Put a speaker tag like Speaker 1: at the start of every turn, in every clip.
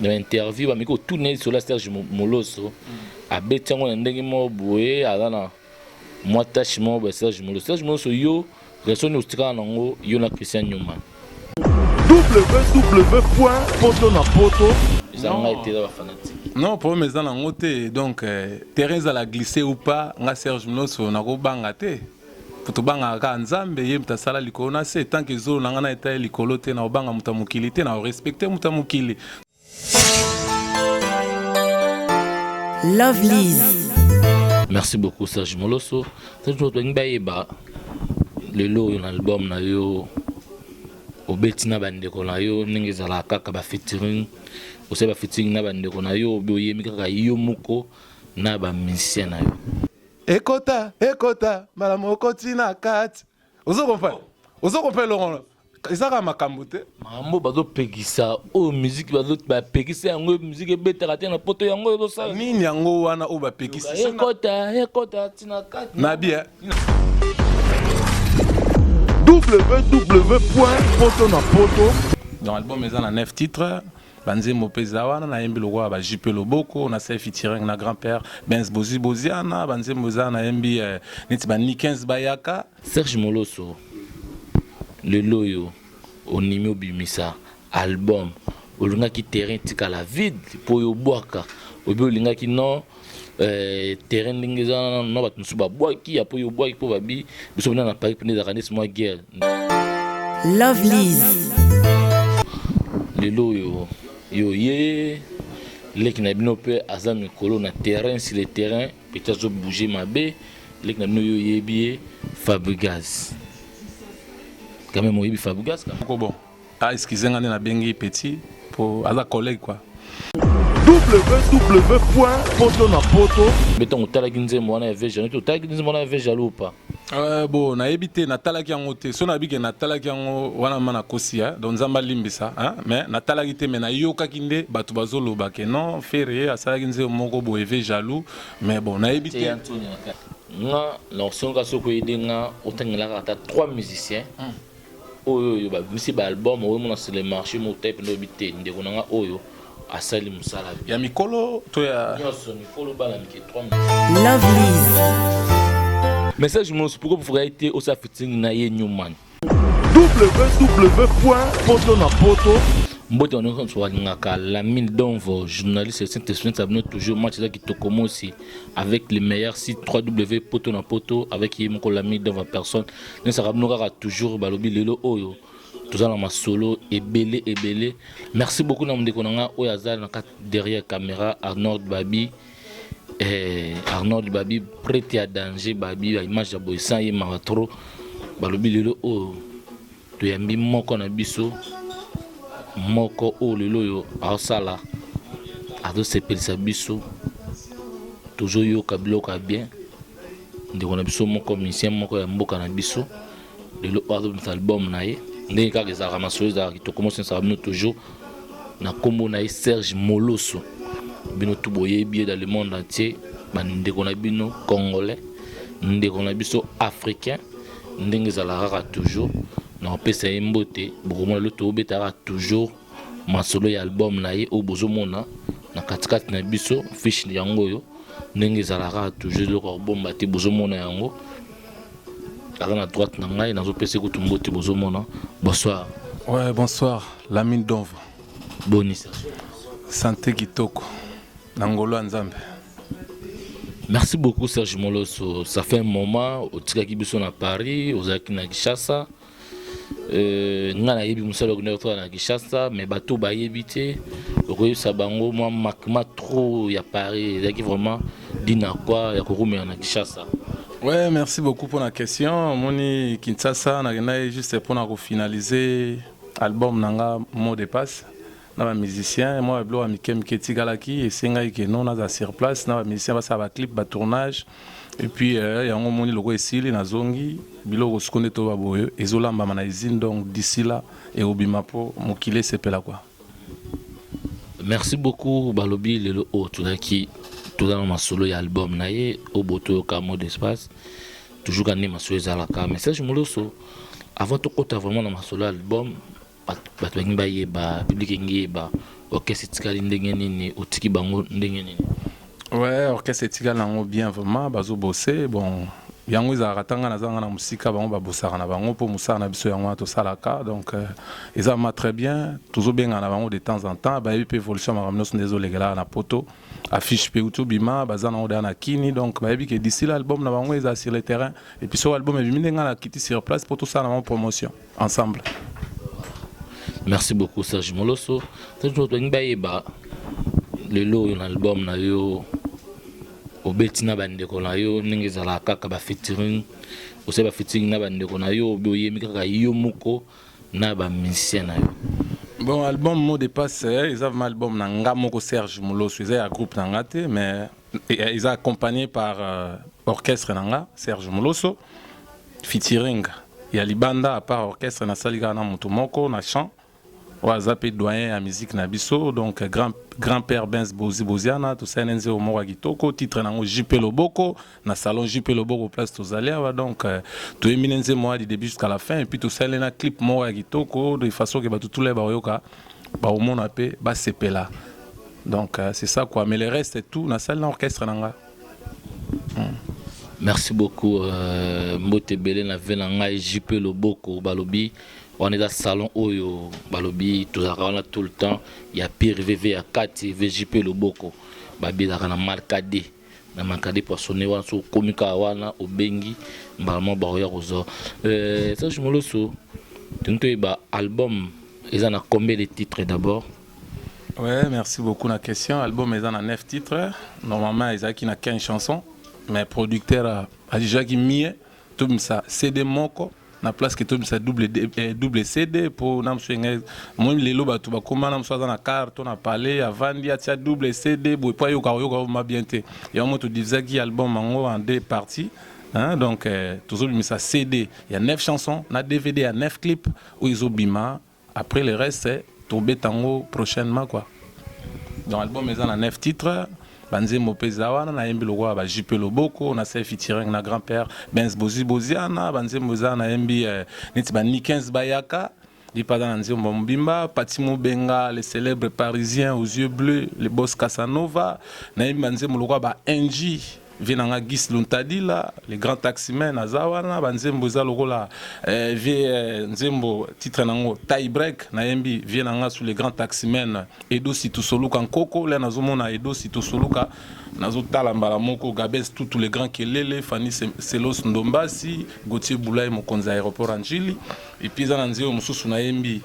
Speaker 1: na ba interview bameki kotuna ye lisolo ya serge Mo- moloso abeti yango na ndenge moko boye aza na mwa tache moko boye ya serge moloso serge moloso yo relation nini otikala na yango yo na christian newman
Speaker 2: www.potonapoto eza Non. ngai
Speaker 1: te eza bafanatique non problème eza nango
Speaker 3: te donc euh, terrain ezala glisse ou pas nga serge mnoso nakobanga te Po tobangaka kaka Nzambe, ye moto asala likolo na se. Tant que zolo na nga nayo etali likolo te, nako banga moto ya mokili te, nako respecter moto ya mokili.
Speaker 4: Lovelyz. Merci
Speaker 1: beaucoup Serge Moloso. Serge Moloso tolingi bayeba lelo oyo na album na yo obeti na bandeko na yo ndenge ezalaka kaka ba featuring osali ba featuring na bandeko na yo obi oyemi kaka yo moko na ba musicien na yo ekota
Speaker 3: ekota mbala moko ti na kati ozo comprendre ozo comprendre longola ezaka makambo te makambo bazopekisa
Speaker 1: oyo oh, miziki bapekisa yango miziki ebetaka te na poto yango ezosala nini yango wana oyo
Speaker 3: bapekisa ekota ekota
Speaker 1: tina kati na bien
Speaker 2: www poto na poto donc album
Speaker 3: eza na 9 titre Ba nzembo pe eza wana na yembi lokola ba JP Loboko na Sey featuring na grand père Benz Bozi Boziana ba nzembo eza na yembi eh, neti ba Nikens Bayaka. Serge Moloso
Speaker 1: lelo oyo onimi obimisa album olingaki terrain etikala vide po yo obwaka obi olingaki non Euh, terrain ndenge eza na bato mosusu babwaki ya mpo yo obwaki mpo babi biso bina na paris mpende ezalaka neti mwa guerre
Speaker 4: lovelise
Speaker 1: lelo oyo yo ye leki na bino mpe aza mikolo na terrain sur le terrain peti azobouge mabe leki na bino yo oyebi ye fabrigas quand même oyebi fabrigas ko bon Ah,
Speaker 3: excusez nga na bengi petit po aza collègue quoi.
Speaker 2: www.potonapoto mbe ntango
Speaker 1: otalaki nzembo wana ya ve jaloux otalaki nzembo wana ya ve jaloux pa euh, bo nayebi
Speaker 3: te natalaki yango te so nayebi ke natalaki yango wana ma nakosi ya donc nzambe alimbisa mais natalaki te mais nayokaki nde bato bazoloba ke non ferre asalaki nzembo moko boye ve jaloux mais bon nayebi te nga
Speaker 1: na osengaka soki oyede nga otangelaka ata trois musiciens mm. oyo oyo babimisi ba album oyo mona sur le marché mo type ndobi te ndeko na nga oyo asali musala ya mikolo
Speaker 3: to ya nyonso mikolo bana
Speaker 1: mike 3 love liz message mosi pourquoi vous ferez te osa fitting na ye newman www.potonapoto
Speaker 2: mbote wana
Speaker 1: nyonso balingaka lamine donvo journaliste saint esprit abino toujours match eza kitoko mosi avec le meilleur site 3w poto na poto avec ye moko lamine donvo personne Nesaka bino kaka toujours balobi lelo oyo toza na masolo ebele ebele. Merci beaucoup na mundeko na nga oyo aza na kati derrière camera Arnold Babi. Eh, Arnold Babi prête ya danger Babi ba image ya boye sans ye mawa trop. Balobi lelo oyo toyambi moko na biso moko oyo lelo oyo aosala azosepelisa biso tozoyoka biloko ya bien ndeko na biso moko musicien moko ya mboka na biso lelo oyo azobimisa album na ye ndenge kaka ezalaka masolo ezalaka kitoko mosensaka bino toujours na nkombo na ye serge moloso bino tu boyebi ye dans le monde entier bandeko na bino congolais ndeko na biso africain ndenge ezalaka kaka toujours na kopesa ye mbote bokomona lelo tobetaka toujours masolo ya album na ye oyo bozomona na katikati na biso fiche yango oyo ndenge ezalaka toujours eloko ya kobomba te bozomona yango aza na droite na ngai nazopesa kutu mbote bozomona bonsoir ouais, bonsoir
Speaker 3: lamine donva bonisa sante kitoko
Speaker 1: na
Speaker 3: ngolo ya nzambe
Speaker 1: merci beaucoup serge moloso ça fait un moment otikaki biso na paris ozalaki na kinshasa Euh, nga nayebi mosala okendaki kosala na kinshasa mais bato bayebi te okoyebisa bango mwa makma trop ya paris ezalaki vraiment dina kwa ya kokumela na kinshasa Ouais, merci
Speaker 3: beaucoup pour la question. Moni Kinshasa, on a juste pour finaliser album nanga mot de passe. na ba musiciens mwa biloko ya mike mike etikalaki esengaki ke non naza sur place na ba musiciens basala ba clip ba tournage et puis euh, yango moni loko esili nazongi biloko siko nde toba boye ezolambama na usine donc d'ici là ekobima mpo mokili esepela kwa
Speaker 1: merci beaucoup balobi lelo oyo tozalaki toza na masolo ya album na ye oyo botoyoka mot d'espace toujours kande masolo ezalaka message moloso avant tokɔta vraiment na masolo ya album Bato balingi bayeba, public elingi eyeba orchestre etikali ndenge nini, otiki bango ndenge nini? Ouais,
Speaker 3: orchestre etikali nango bien vraiment, bazo bosser bon yango ezalaka ata ngai nazanga na mosika bango babosaka na bango mpo mosala na biso yango wana tosalaka donc euh, eza ma très bien tozobengana na bango de temps en temps bayebi mpe évolution makambo nyonso nde ezolekelaka na poto affiche mpe uti obima baza nango deya na kini donc bayebi ke d'ici la album na bango eza sur le terrain et puis soki album ebimi nde ngai nakiti sur place mpo tosala na bango promotion ensemble
Speaker 1: merci beaucoup serge moloso tolingi bayeba lelo oyo na album na yo obeti na bandeko na yo ndenge ezalaka kaka bafeaturing osali bafeaturing na bandeko na yo obi oyemi kaka yo moko na bamusicien na yo bon album
Speaker 3: mot de passe eh, eza vraimen album na nga moko serge moloso eza ya groupe na nga te mais eza accompagné par euh, orchestre na nga serge moloso featuring ya libanda apart orchestre nasali kaka na moto moko na chant oyo aza mpe doyen ya musique na biso donc grand, grand père bens bozi boziana tosali na nzeo moko ya kitoko titre na yango jp loboko na salon jp loboko place tozali awa donc euh, toyembi na nzembo wana du début jusqu'à la fin epuis tosali na clip moko ya kitoko de façon ke bato tula bakoyoka bakomona mpe basepela donc euh, c'est ça quoi mais le reste tout na salle na orchestre na nga hmm.
Speaker 1: merci beaucoup euh, mbote ebele na ve na ngai jp loboko balobi wana eza salon oyo balobi tozalaka wana tout le temps ya pire vv ya kati vjp loboko babelaka na markade na mankade poissonne wana so okomi kaka wana obengi mbala moko baoya kozwa euh, serge moloso toni toyeba album eza na combien de titre d'abord ouais
Speaker 3: merci beaucoup na question album eza na 9 titre normalement ezalaki na 15 chanson mais producteur ajujaki mie tobimisa cd moko na place que tobimisa double, eh, double cd mpo na mosusu enge moi lelo bato bakoma na mosusu aza na car to na palais avandi atia double cd boye mpo ayoka koyoka oma bien te yango mo todivisaki album yango en deux parties Hein, donc eh, tozobimisa cd ya 9 chanson na dvd ya 9 clip oyo ezobima Après le reste tobeta yango prochainement quoi. Donc album eza na 9 titres banzembo mpe eza wana nayembi lokola ba jupe loboko na sel featuring na grand père benz bozi boziana banzembo eza nayembi eh, neti ba nikens bayaka lipada na nzembo mobimba pati mobenga le célèbre parisien aux yeux bleus le boss casanova nayembi banzembo lokola ba ng vie na nga Gis Luntadila le grand taximan aza wana ba nzembo eza lokola eh, vie eh, nzembo titre nango tie break na yembi vie na nga sous le grand taximan Edo Situsoluka Nkoko le nazomona Edo Situsoluka nazotala mbala moko Gabes Tutu le grand Kelele Fanny Se- Selos Ndombasi Gauthier Boulay mokonzi ya aéroport ya Ndjili epi eza na nzembo mosusu na yembi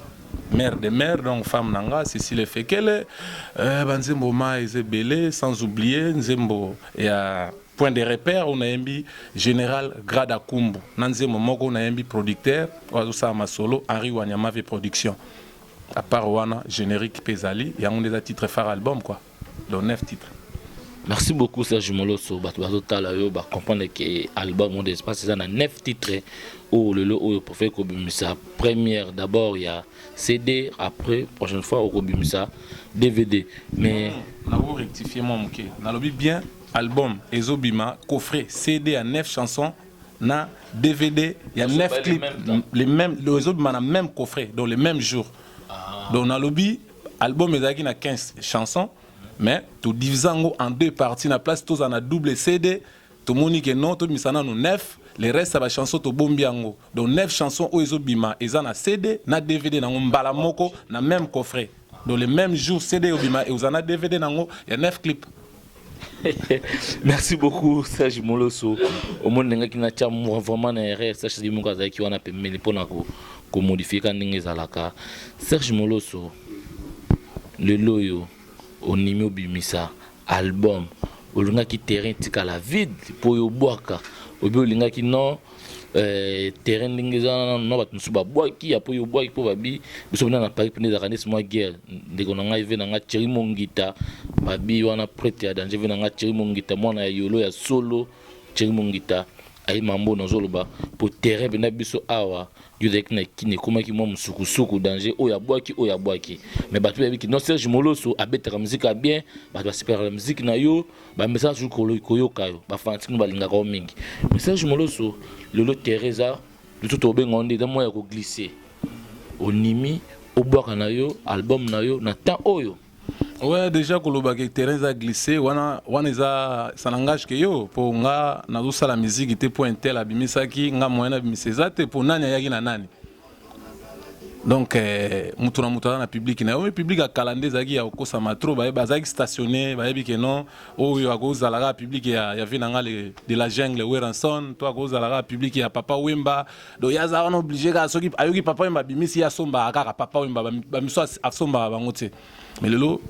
Speaker 3: Mère de mère donc femme na nga Cécile Efekele euh, ba nzembo ma eza ebele sans oublier nzembo ya point de repère oyo nayembi général Grada Kumbu na nzembo moko nayembi producteur oyo azosala masolo Henri Wanyamave production à part wana générique mpe ezali yango nde eza titre phare album quoi Donc 9 titres. Merci beaucoup
Speaker 1: Serge Molosso, bato bazotala yo ba comprendre que album Monde Espace eza na 9 titres oyo lelo oyo profete kobimisa première d'abord ya CD après prochaine fois okobimisa DVD mais na ko rectifier
Speaker 3: moi moke nalobi bien album ezobima coffret CD à 9 chansons na DVD il y a 9 clips les mêmes les mêmes coffrets donc les mêmes jours ah. donc nalobi Album ezalaki na 15 chansons mais to divisa yango en deux parties na place tozala na double CD tomoni ke non tobimisa nanu 9 le reste ya ba chanson tobombi yango donc 9 chanson oyo ezobima eza na CD na DVD nango mbala moko na même coffret donc le même jour CD obima ekozala na DVD nango ya 9 clip
Speaker 1: merci beaucoup serge moloso omoni ndengaki natya mwa vraiment na erreur serge soki moko azalaki wana pembeni mpo na komodifie ka ndenge ezalaka serge moloso lelo oyo onimi obimisa album olingaki terrain etikala vide mpo oyo obwaka obi olingaki non Euh, terrain ndenge eza na bato mosusu babwaki apo yo obwaki mpo babi biso bina na paris mpende ezalaka neti mwa guerre ndeko na ngai ve na ngai thierry mongita babi wana prete ya danger ve na ngai thierry mongita mwana ya yolo ya solo thierry mongita aye mambo nazoloba mpo terrain mpenda biso awa yo ozalaki na kini ekomaki mwa mosukusuku danger oyo abwaki oyo abwaki mais bato bayebiki non serge moloso abetaka miziki ya bien bato basepelaka na miziki na yo ba message oyo kolo- koyoka yo ba fanatique no balingaka yo mingi mais serge moloso lelo terrain eza biso tokobenga yo nde eza moya ya koglisse onimi obwaka na yo album na yo na temps oyo Ouais, déjà
Speaker 3: koloba ke terrain eza glissé wana wana eza ça n'engage que yo po nga nazosala miziki te po intel abimisaki nga moyen abimisa eza te po nani ayaki na nani donc eh, moto na moto aza na publiki na yo publiki ya kala nde ezalaki ya kokosama tro bazalaki stationne bayebi ke non oyo akozala kaka publiki ya, ya vie na nga de la jungle weranson to akozala kaka publiki ya papa wemba donc ye aza wana oblige kaka soki ayoki papa wemba abimisi ye asombaka kaka papa wemba bamiso asombaka bango te ba mais lelo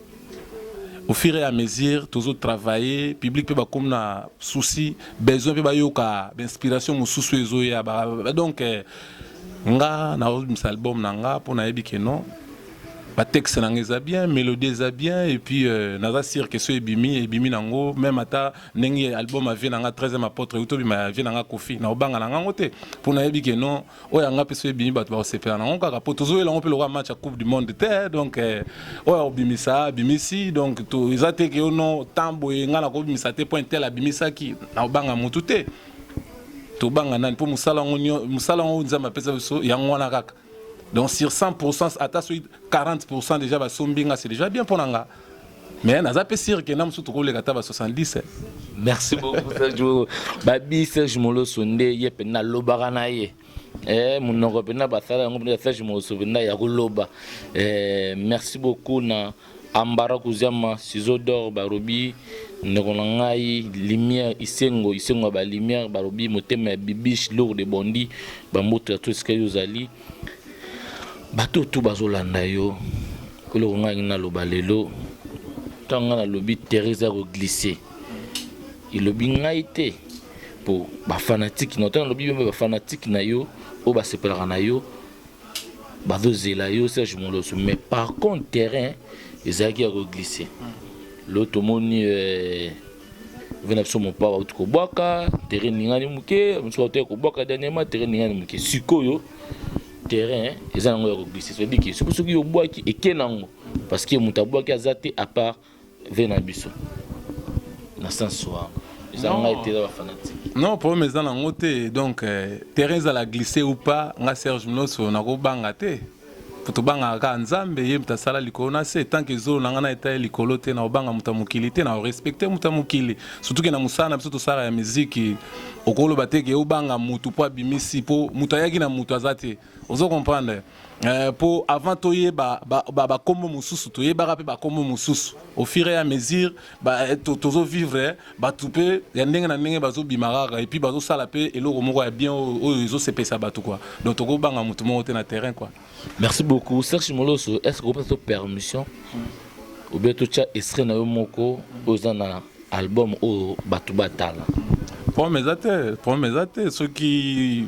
Speaker 3: au fur et à mesure tozo travailler public pe ba comme na souci besoin pe ba yoka inspiration mususu ezo ya ba donc eh, nga na obimisa album na nga mpo nayebi ke non batexte na nga eza bien mélodie eza bien et puis euh, naza sire ke so ebimi ebimi nango meme ata ndenge album avie na nga 13e apôtre euti obima avie na nga kofi na obanga na ngango te mpo nayebi ke non oyo ya nga mpe soki ebimi bato bakosepela nango kaka mpo tozoyela yango mpe lokola match ya coupe du monde te donc eh, oyo akobimisa abimisi donc eza te ke ono temps boye nga nakobimisa te mpo intel abimisaki nakobanga motu te tobanga nani mpo mosala yango mosala yango nzambe apesa biso yango wana kaka donc sur 100 ata soki 40 déjà basombi nga c'est déjà bien mpo na nga mais naza pe sire ke na mosusu tokoleka ata ba 70 eh. merci beaucoup
Speaker 1: serge babi serge moloso nde ye mpe nalobaka na ye eh, monoko mpenza basala yango mpenza serge moloso mpenza ya koloba eh, merci beaucoup na ambara kuziama sizo dor barobi ndeko na ngai lumière isengo isengo ya balumière balobi motema ya bibiche lourde bondi bamboto ya to esika yo ozali bato tout bazolanda yo eloko ngai alingi naloba lelo ntango ngai nalobi therese ya koglise elobi ngai te mpo bafanatike na ntango nalobi bembe bafanatike na yo oyo basepelaka na yo bazozela yo serge moloso mais par contre terrain ezalaki ya koglise lo tomoni euh, ve na biso mopa bauti kobwaka terrain ningani moke mosusu bautaki kobwaka dernièrement terrain ningani moke sikoyo terrain eza nango ya koglise soyebi ke soki soki obwaki eke nango parce que moto abwaki aza te à part ve na biso na sens wana eza ngai te eza bafanatique non problème eza nango
Speaker 3: te donc euh, terrain ezala glisse ou pas nga serge mnoso nakobanga te Po tobangaka kaka Nzambe, ye moto asala likolo na se. Tant que zolo na nga na etali likolo te, nakobanga moto ya mokili te, nako respecter moto ya mokili. Surtout que na mosala na biso tosalaka ya miziki, okoloba te que obanga mutu po abimisi, po mutu ayaki na mutu aza te. Ozo comprendre? Eh, po avant toyeba ba kombo mosusu, toyebaka pe ba kombo mosusu au fur et à mesure. ba eh, to- tozo vivre eh, bato mpe ya ndenge na ndenge bazobima kaka epuis bazosala mpe eloko moko ya bien oyo oyo ezosepesa bato kua donc tokobanga moto moko te na terrain kua merci beaucoup
Speaker 1: serge moloso est ce que okopesa to permission obie totya estre na yo moko oyo eza na album oyo bato batala problème eza
Speaker 3: te problème eza te soki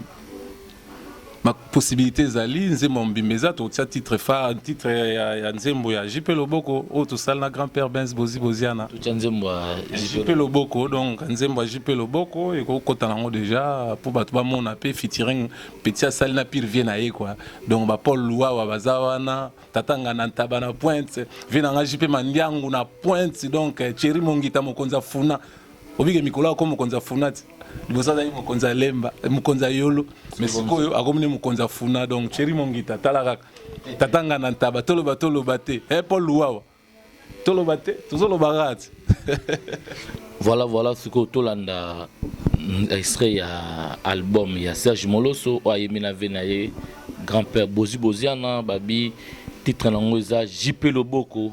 Speaker 3: ma possibilité ezali nzembo ya mobimba eza tokotia titre fa titre ya, ya nzembo ya jp loboko oyo tosali na grand père benz bozi boziana totia nzembo ya
Speaker 1: jp loboko
Speaker 3: donc nzembo ya jp loboko ekokota nango déjà mpo bato bamona mpe featuring petit asali na pire vie na ye kua donc bapaul luwawa baza wana tata nga na ntaba na pointe vie na nga jp mandiangu na pointe donc cheri mongita mokonzi afuna obike mikolo ako mokonzi afuna ti liboso azalaki mokonzi ya lemba eh, mokonzi ya yolo me sikoyo akomi nde mokonzi ya funa donc cheri mongita tala kaka tatanga na ntaba toloba toloba te e eh, paul luwawa toloba te tozoloba kaka te
Speaker 1: voilà voilà sikoyo tolanda mm, extrait ya album ya serge moloso oyo ayemi na ve na ye grand père bozi boziana babi titre na yango eza jipe loboko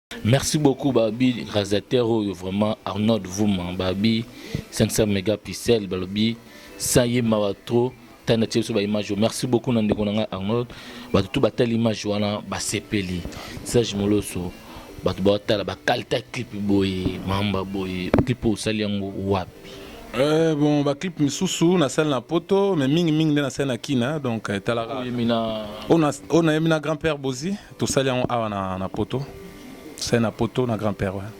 Speaker 1: Merci beaucoup Babi réalisateur oyo vraiment Arnold Vuma Babi 500 mégapixels Babi ça y est mawa trop tanda tie biso ba image merci beaucoup na ndeko na ngai Arnold bato tout batali image wana basepeli Serge Moloso bato batala bakalita clip boye mamba boye clip osali yango wapi Euh, bon
Speaker 3: baclip misusu nasali na poto mais mingimingi nde nasali na kina donc etalaka oyo nayemi na grand père bozi Tosali yango awa na, na poto tosali na poto na grand père wana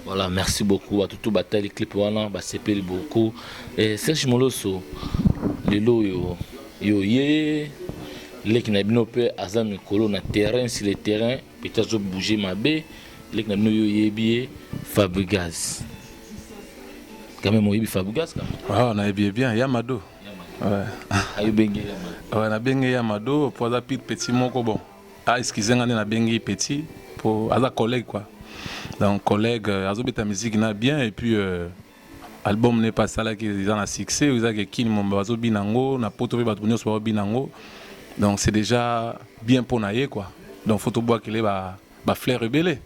Speaker 1: voilà merci beaucoup bato to batali clip wana basepeli beaucoup eh, serge moloso lelo oyo yo ye leki na bino mpe aza mikolo na terrain sur le terrain pete azobouge mabe leki na bino yo oyebi ye fabrigaz quand même oyebi fabrigaz quand même ah, nayebi ye bien ya
Speaker 3: mado
Speaker 1: Ouais, na bengi
Speaker 3: ya mado po aza pire petit moko bon ah excuse nga nde na bengi petit po aza collègue quoi donc collègue euh, azobeta musique na bien et puis euh, album ne pas asalaki eza na succès oyo ezalaki ekini momba bazobina yango na poto mpe bato nyonso baobina yango donc c'est déjà bien mpo na ye quoi donc fo tobwakele ba ba fleur ebele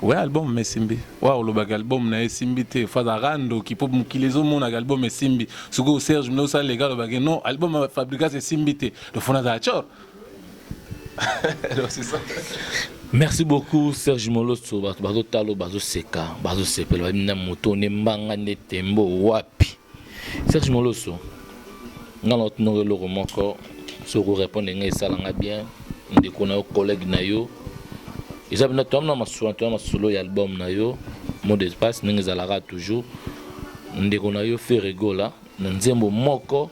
Speaker 1: we album esimbi
Speaker 3: wa olobaka album na ye esimbi te fazaka ndoki mpo mokili ezomonaka album esimbi sikoyo serge mine osala leka alobaki non album ya fabricas esimbi te lofona azala cor merci
Speaker 1: beaucoup serge moloso bato bazotala bazoseka bazosepela babi na moto nde mbanga nde tembo wapi Serge Moloso, nga na otunaka eloko moko soki orépondre nga esala nga bien ndeko na yo collègue na yo eza bino toyamna masolo toya masolo ya album na yo mot de passe ndenge ezalaka toujours ndeko na yo Ferre Gola na nzembo moko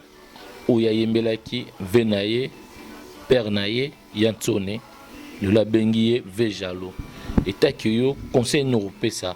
Speaker 1: oyo ayembelaki ve na ye père na ye ya nsone lelo abengi ye ve jaloux etaki yo conseil nini okopesa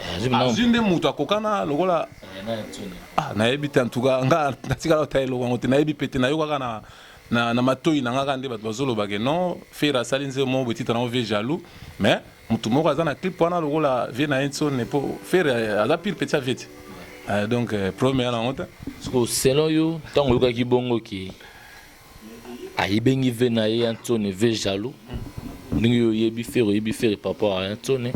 Speaker 3: Eh, azwi nde moto akokana lokola eh, ah, nayebi te antuka nga natikala ota eloko yango te nayebi mpe te nayokaka na, na, na matoi na ngaka nde bato bazolobake non fere asali nzembo moko betitre yango vie jaloux mais motu moko aza na clip wana lokola vie na ye nsone mpo fere eh, aza pire petit ya vie te donc problème eya na yango te siko selon yo
Speaker 1: ntango oyokaki bongo ke ayibengi ve na ye ya nsone ve jaloux ndenge yo oyebi fere oyebi fere par rapport ya nsone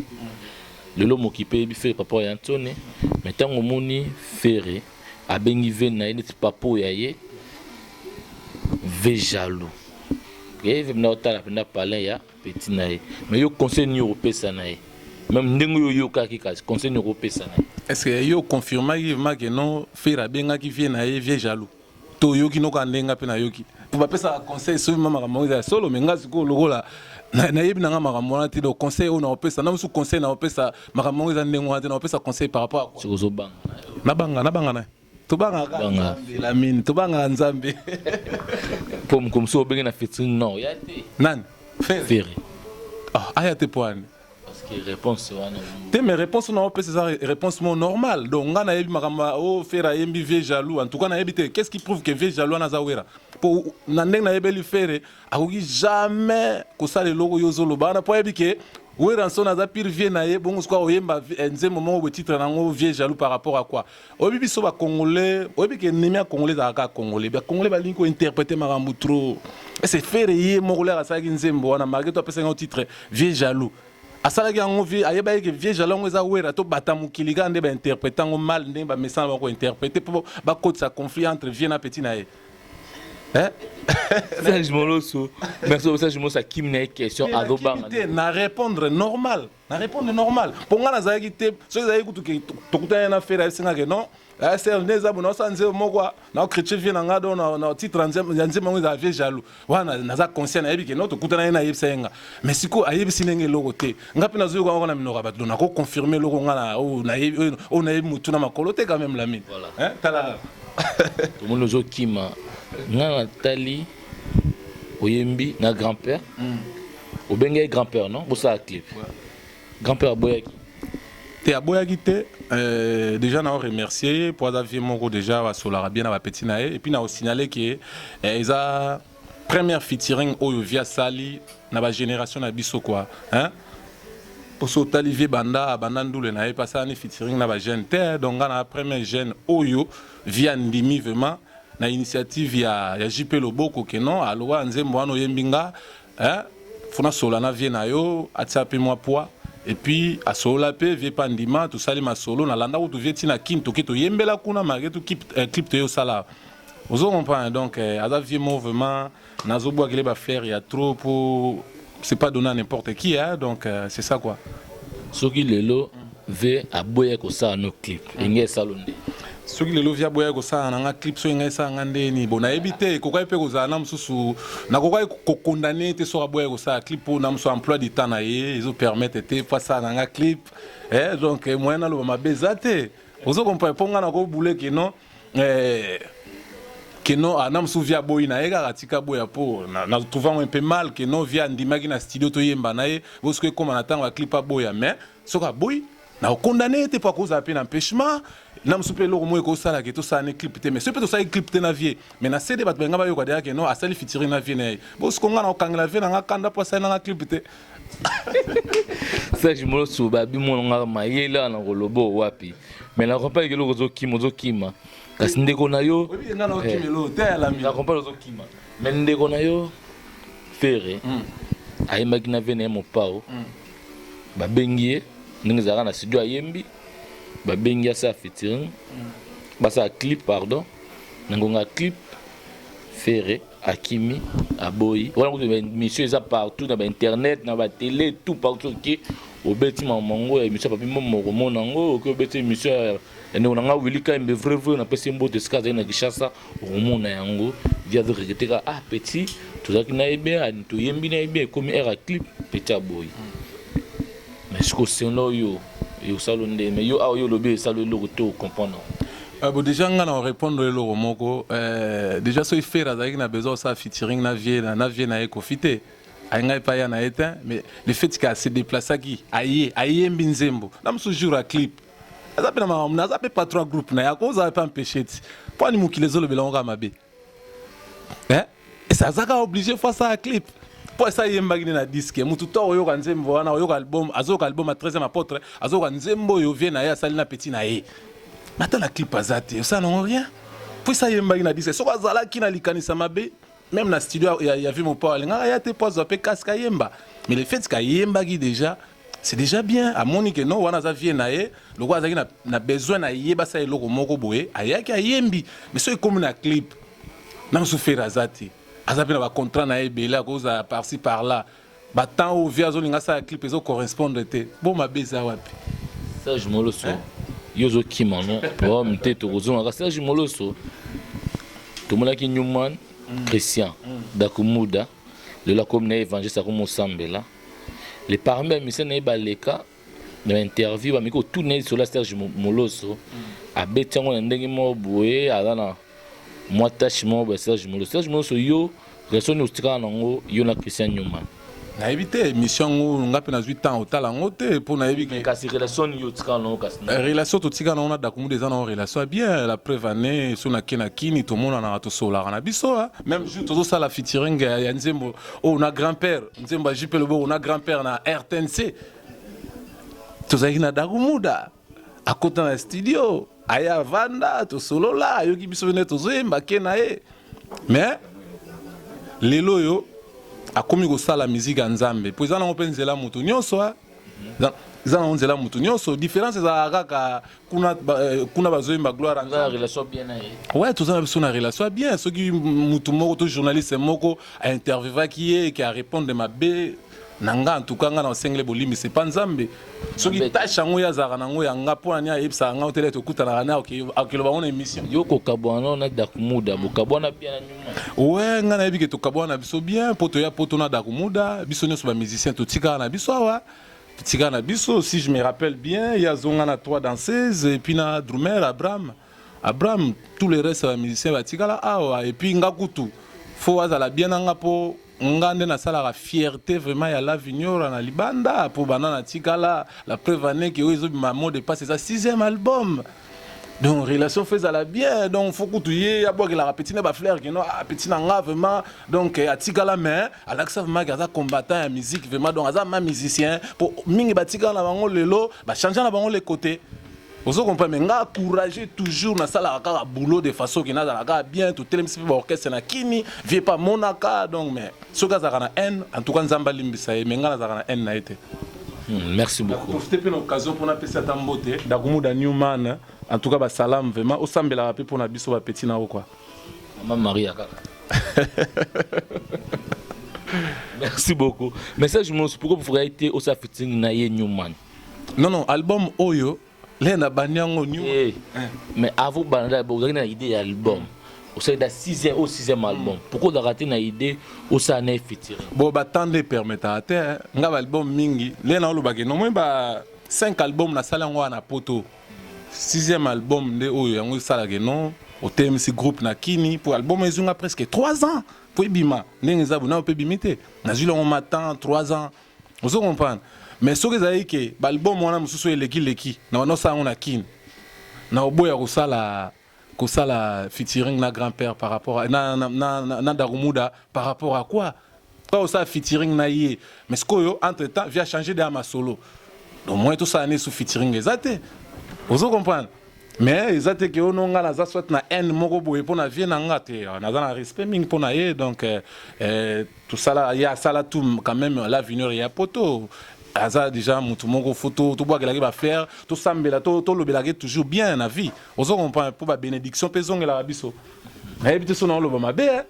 Speaker 1: lelo mokipe eyebi fere par rapport ya nsone me ntango omoni fere abengi ve na ye neti papo ya ye ve jaloux ye ve mna otala mpenza palin ya peti na ye me yo conseil nini okopesa na ye meme ndenge oyo oyokaki kasi conseil nini okopesa na ye est ce que yo confirmaki
Speaker 3: vraimen ke non fere abengaki vie na ye vie jaloux to yoki noka nde nga pe na yoki po ba pesa conseil soki mama makambo eza solo me nga sikoyo lokola na yebi na nga makambo wana te donc conseil oyo na opesa na musu conseil na opesa makambo eza ndenge wana te na opesa conseil par rapport à quoi soki banga na banga
Speaker 1: na banga
Speaker 3: na tobanga ka nzambe la mine tobanga nzambe
Speaker 1: po mukomso obenge na featuring non ya te nani ferre
Speaker 3: ferre
Speaker 1: ah
Speaker 3: aya te poani Parce que réponse
Speaker 1: wana te mais
Speaker 3: réponse na opesa eza réponse mo normal donc nga nayebi makambo o oh, fere ayembi vie jaloux en tout cas nayebi te qu'est ce qui prouve que vie jaloux wana aza wera mpo na ndenge nayebeli fere akoki jamais kosala eloko yo ozoloba wana mpo ayebi ke weranson aza pire vie na ye bongo sikoyo oyemba eh, nzembo moko botitre na yango vie jaloux par rapport à quoi Oyebi biso ba congolais, oyebi ke ennemi ya congolais ezalaka kaka congolais. Ba congolais balingi ko interpreter makambo trop. Ese Ferre ye moko leka asalaki nzembo wana malgré tout apesaki yango titre vieux jaloux. Asalaki yango vieux ayebaki ke vieux jaloux yango eza werra to bata mokili kaka nde ba interpreter yango mal ndenge ba mesana bango ko interpreter po bakotisa conflit entre vieux na petit na ye. Eh?
Speaker 1: Serge Moloso, merci au Serge Moloso akim na ye question azo banga. Na répondre
Speaker 3: normal. na répondre normal mpo ngai nazalaki te soki ezalaki kutu ke tokutani na fere ayebisinga ke non asr nde eza bona osala nzembo moko na okritie vie na ngai do na titre ya nzembo yango ezala vie jaloux wana naza conscient nayebi ke non tokutana ye nayebisa ye nga mais sikoyo ayebisi ndenge eloko te ngai mpe nazwi kaka na minoko ya bato do nakoconfirme eloko ngai na oyo nayebi motu na makolo te quand même lamine tala
Speaker 1: tomoni ozokima ngai natali oyembi na grand père mm. obengaki grand père non bosala clip grand père aboyaki te
Speaker 3: aboyaki te euh, déjà nao remercier ye mpo aza vie moko déjà basolaka bien na bapeti na ye epuis naosignale ke eh, eza première featuring oyo vie asali na bagénération na biso kua hein? poso otali vie banda abanda ndule na ye mpe asalani featuring na bajeune te donc nga na première jeune oyo vie andimi vraiment na initiative ya ya JP Loboko que non aloba nzembo wana oyembi nga hein fona sola na vie na yo atia pe mwa poids et puis asolola pe vie pa ndima tosali masolo na landa kutu vie tina kin toke toyembela kuna malgré tout clip, eh, clip toye osala ozo comprendre donc eh, aza vie mo vraiment Nazo bwakele ba fleurs ya trop po c'est pas donné à n'importe qui hein donc euh, c'est ça quoi. Soki lelo
Speaker 1: ve aboya ko sala no clip mm. inge salo nde. soki lelo via
Speaker 3: boya kosala na nga clip soki ngai esala nga nde nini bo nayebi te ekokaki mpe kozala na mosusu nakokaki kokondane te soki aboya kosala clip mpo na mosusu emploi du temps na ye ezopermettre te mpo asala na nga clip eh, donc eh, moyen naloba mabe eza te ozo comprendre mpo ngai nakobule ke non Eh, que non ah, na mosusu via boyi na ye kaka tika boya mpo na trouve yango mpe mal que non via andimaki na studio toyemba na ye bosoki ekóma na ntango ya clip aboya mais soki aboyi na okondane ye te mpo akozala mpe na empêchement na mosusu mpe eloko moko ekosala ke tosala ne clip te mais soki mpe tosali clip te na vie mais na cd bato balinga bayoka deya ke non asali fitiring na vie na ye bosoki nga na kokangela vie na nga kanda mpo asali na nga clip te serge
Speaker 1: molosu babi mono nga mayele wana koloba wapi mais na comprendre ke eloko ozokima ozokima kasi ndeko na yo eh,
Speaker 3: na comprendre ozokima
Speaker 1: mais ndeko na yo ferre hmm. ayembaki na vie na ye mopao hmm. babengi ye ndenge ezalaka na studio ayembi babengi asala featuring hmm. basala clip pardon na ngonga clip Ferre akimi aboyi wana kutu émission eza partout na ba internet na ba télé tout partout qui obeti mamango ya émission papi momo okomona yango okoki obeti émission ya ndeko na ngai wili kaimbe vrai vrai napesi mbote esika azali na kinshasa okomona yango vi azoreketeka ah petit tozalaki na ye bien toyembi na ye bien ekomi aire ya clip petit aboyi Mais siko selon yo ekosalo nde mais yo awa yo olobi esalo eloko to comprendre euh, bo déjà
Speaker 3: nga na répondre eloko moko euh, déjà soki fere azalaki na besoin osala featuring na vie na, na vie na ye kofi te ayenga epai ya na ye te mais le fait que ase déplaceaki aye ayembi nzembo na mosusu jour ya clip aza mpe na makambo naza mpe patron ya groupe na ye akozala mpe empêche ti mpo ani mokili ezolobela yango kaka mabe eh esa azaka oblige fois ça clip po esa yembaki na disque mutu to oyoka nzembo wana oyoka album azoyoka album ya 13e apôtre azoyoka nzembo oyo vie na ye asali na petit na ye ata na clip aza te osala nango rien po esa yembaki na disque soki azalaki na likanisa mabe même na studio ya, ya vie mopao alingaka ya te po azwa pe casque ayemba mais le fait kayembaki déjà c'est déjà bien amoni que non wana aza vie na ye lokola azalaki na, na besoin na ye basala eloko moko boye ayaki ayembi mais soki ekomi na clip na mosusu fere aza te aza mpe na bacontrat na ye ebele akozala parci par là batemp oyo vie azolinga asala clip ezo correspondre te bo mabe eza wapi serge moloso
Speaker 1: hein? yo ozokima no problème te tokozongaka serge moloso tomonaki newman mm. christian mm. dakumuda lelo akomi na ye evangeliste akomi osambela le parmi bamisia na ye baleka na bainterview bameki kotuna ye lisolo ya serge moloso abeti yango na ndenge moko boye aza na mwa tache moko boye serge moloso serge moloso yo relation nini otikala nango yo na christian newman nayebi te
Speaker 3: émission yango nga mpe nazwi temps otala yango te mpo nayebi kasi relation nini otikala
Speaker 1: nango kasi eh, relation totikala nango
Speaker 3: na dakumuda eza nango relation ya bien la preuve année so nake na kini tomonanaka tosolaka na biso ah. Même jour tozo sala featuring ya, ya nzembo oh na grand père nzembo ya JP Loboko na grand père na RTNC tozalaki na Dagumuda akota na studio aya avanda tosolola ayoki biso bene tozoyemba ke na ye mais lelo oyo akomi kosala miziki ya nzambe mpo eza nango mpe nzela moto nyonso eza nango nzela moto nyonso différence ezalaka kaka kuna ba, euh, kuna bazoyemba gloire à Nzambe. relation bien
Speaker 1: na ye ouais toza na biso na relation
Speaker 3: bien soki mutu moko to journaliste moko ainterviewaki ye eke arépondre mabe na nga en tout cas nga na osengele bolimbisi epa nzambe soki Nzambe. tâche yango ye azalaka na yango ya nga mpo na nini ayebisaka nga otele tokutanaka na akeloba yango na émission yo kokabwana no
Speaker 1: na dakumuda bokabwana bien na nyuma we nga nayebi ke
Speaker 3: tokabwana na biso bien mpo toya poto na dakumuda biso nyonso bamusicien totikaka na biso awa Tika na biso si je me rappelle bien, il y a Zonga na 3 danseuses et puis na drummer Abraham. Abraham, tous les restes ya musiciens batikala awa et puis nga kutu faut azala bien nanga po nga nde nasalaka fierté vraiment ya la vignora na libanda po bana natikala la preuve année que oyo ezobima mot de passe eza sixième album donc relation faut ezala bien donc faut kutu ye abwakelaka petit na bafleur keno ah, petit na nga vraiment donc eh, atikala mais alakisa vraiment ke aza combattant ya musique vraiment donc aza ma musicien mpo mingi batikala na bango lelo bachange na bango le côté ozo comprendre mais nga courageux toujours nasalaka kaka boulot de façon ke nazala kaka bien totelemisi mpe baorchestre na kini vie pa monaka donc mais soki azalaka na haine en tout cas nzambe alimbisa ye mais ngai nazalaka na haine na ye te hmm, merci
Speaker 1: beaucoup profite mpe na occasion mpo
Speaker 3: napesa ata mbote dakumuda newman en tout cas basalam vraiment osambelaka mpe mpo na biso bapeti na yo kua mama maria
Speaker 1: kaka merci beaucoup message mosusu pourquoi bofukaki te osa fitting na ye newman non non
Speaker 3: album oyo le na bandi yango nyuma eh, eh. mais
Speaker 1: avant banda bozalaki na idée ya album osalaki na 6e au 6e album mm. pourquoi ozalaka te na idée osala na ye fitiri bo batanda
Speaker 3: epermetaka te eh. nga baalbum mingi le na olobaki nomoi ba 5 album nasala yango wana na poto 6e album nde oyo yango esalaka non otelemisi groupe na kini mpo album ezwi nga presque 3 ans mpo ebima ndenge eza bonayo mpe ebimi te nazwi lango matan 3 ans ozo comprendre mais soki ezalaki ke balbum wana mosusu oyo eleki leki na banda osala yango na kin na oboya kosala kosala featuring na grand père par rapport à, na, na, na, na, na darumuda par rapport à quoi kaka osala featuring na ye mais sikoyo entre temps via changer de ya masolo donc moyen tosala ne su featuring eza te ozo comprendre Mais eza te ke ono nga naza soit na haine moko boye mpo na vie na nga te ah, naza na respect mingi mpo na ye donc eh, eh tosala ye asala tout quand même la vineur ya poto aza déjà mutu moko fo tobwakelaki bafleur tosambela tolobelaki toujours bien na vie ozo comprendre mpo babénédiction mpe ezongelaka biso nayebi te so naoloba mabe eh.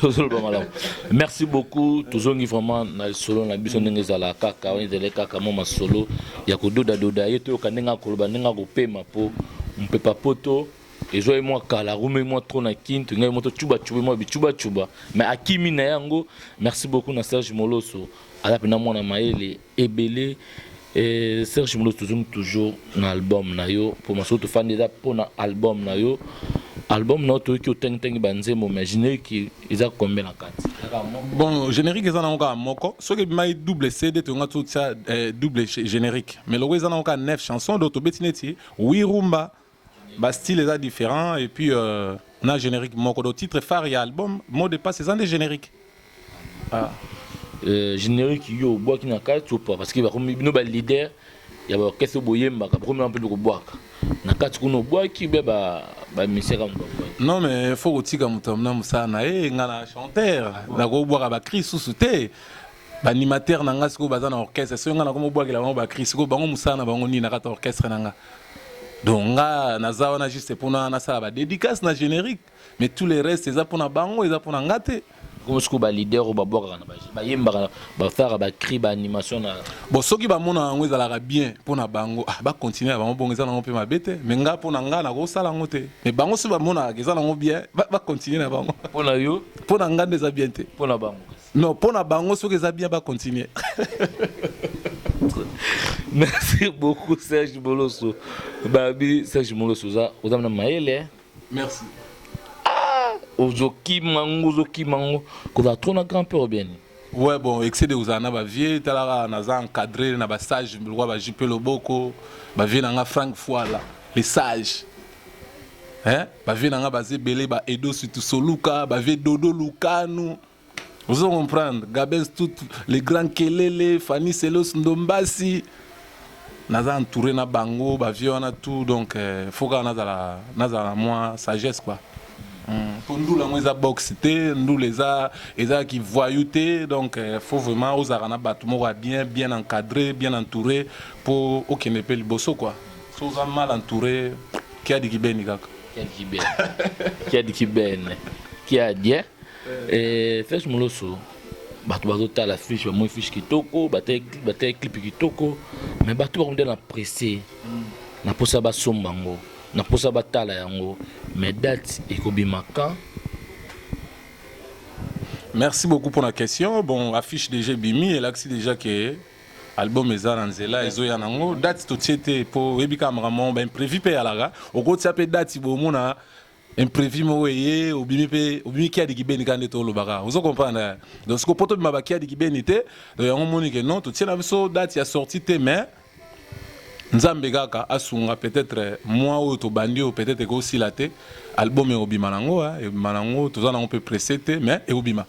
Speaker 3: ozoloba malamu merci
Speaker 1: beaucoup tozongi vraiment na lisolo na biso ndenge ezala kaka wana ezali kaka mwa masolo ya kododadoda ye toyoka ndenge akoloba ndenge akopema mpo mpepa poto ezwa ye mwa kala arume mwa tro na kin tolinga ye mwa tocubacuba mwa bicubacuba mais akimi na ye yango merci beaucoup na serge moloso aza mpena mwana mayele ebele eh, Serge Mulos tozongi toujours na album na yo mpo masolo tofandi eza mpo na album na yo album na yo toyoki otangitangi banzembo mais générique eza combien na kati bon
Speaker 3: générique eza nango kaka moko soki ebimaki double cd toyonga totya eh, double générique mais loko eza nango kaka 9 chanson donc tobeti neti wirumba Ba style eza different et puis euh, na generique moko donc titre phare ya album mot de passe eza nde generique ah. Euh,
Speaker 1: generique yo obwaki na kati ou pas parce que bakomi bino ba leader ya ba orchestre boyembaka bakomi na mpe kobwaka na kati kuna obwaki be ba ba misaka non mais
Speaker 3: faut kotika moto amna mosala na ye nga na chanteur nakobwaka ba cri susu te baanimateur na nga sikoyo baza na orchestre soki nga nakomi obwakela bango ba cri sikoyo bango mosala na bango nini na kati ya orchestre na nga donc nga naza wana juste pona nasala ba dedicace na generique mais tout le reste eza pona bango eza pona nga te komosuku ba leader
Speaker 1: oyo babwakaka na baje bayembaka bafaka bacri ba animation na bon soki bamona
Speaker 3: yango ezalaka bien mpo na bango ah, bakontinue ya bango bongo eza nango mpe mabe te mais nga mpo na nga nakosala yango te mais bango soki bamonaka eza nango bien bakontinue na bango mpo na yo mpo
Speaker 1: na nga nde eza bien
Speaker 3: te mpo na bango Non
Speaker 1: pona bango
Speaker 3: soki eza bien ba continuer.
Speaker 1: Merci beaucoup Serge Moloso. Babi Serge Moloso oza oza na mayele. Hein? Merci.
Speaker 3: Ah, ozoki
Speaker 1: mango ozoki mango. Koza trop na grand père bien. Ouais bon, excès
Speaker 3: de ozana ba vieux talaka naza encadré na ba sage lwa ba JP Loboko, ba vieux nanga Frank Fuala, les sages. Hein? Ba vieux nanga baze belé ba Edo Sutusoluka, ba vieux Dodo Lukanu. Vous comprenez, Gabens tout les grands Kelele, Fanny Selos Ndombasi, naza entouré na bango, ba vieux wana tout donc euh, faut kaka nazala nazala moi sagesse quoi. Mm. Po ndula ngo eza box te, ndula eza eza ki voyou te donc euh, faut vraiment ozala na bato moko ya bien bien encadré, bien entouré po okende pe liboso quoi. So oza mal entouré, kiadi kibeni kaka. Kiadi kibeni.
Speaker 1: Kiadi kibeni. Kiadi eh? Eh, Flash Moloso, bato bazotala fiche bamoi fiche kitoko batali clipe kitoko me bato bakomida na presse na mposa basomba yango na mposa batala yango me date ekobima quand
Speaker 3: merci beaucoup pour la question bon affiche déjà ebimi elakisi déjà ke album eza na nzela ezoya nango date totie te mpo oyebi kaka makambo imprévu mpe eyalaka okotia mpe date bomona imprevu moko eye obimi mpe obimi kiadi kibeni kaka ndeti olobaka ozo comprendre eh? donc siko mpo tobima bakiadi kibeni te donc yango omoni ke non totie na biso date ya sortie te mais nzambe kaka asunga peut-être mwa oyo tobandi oyo peut-être ekosila te album ekobima nango eh? ekobima nango toza nango mpe presse te mais ekobima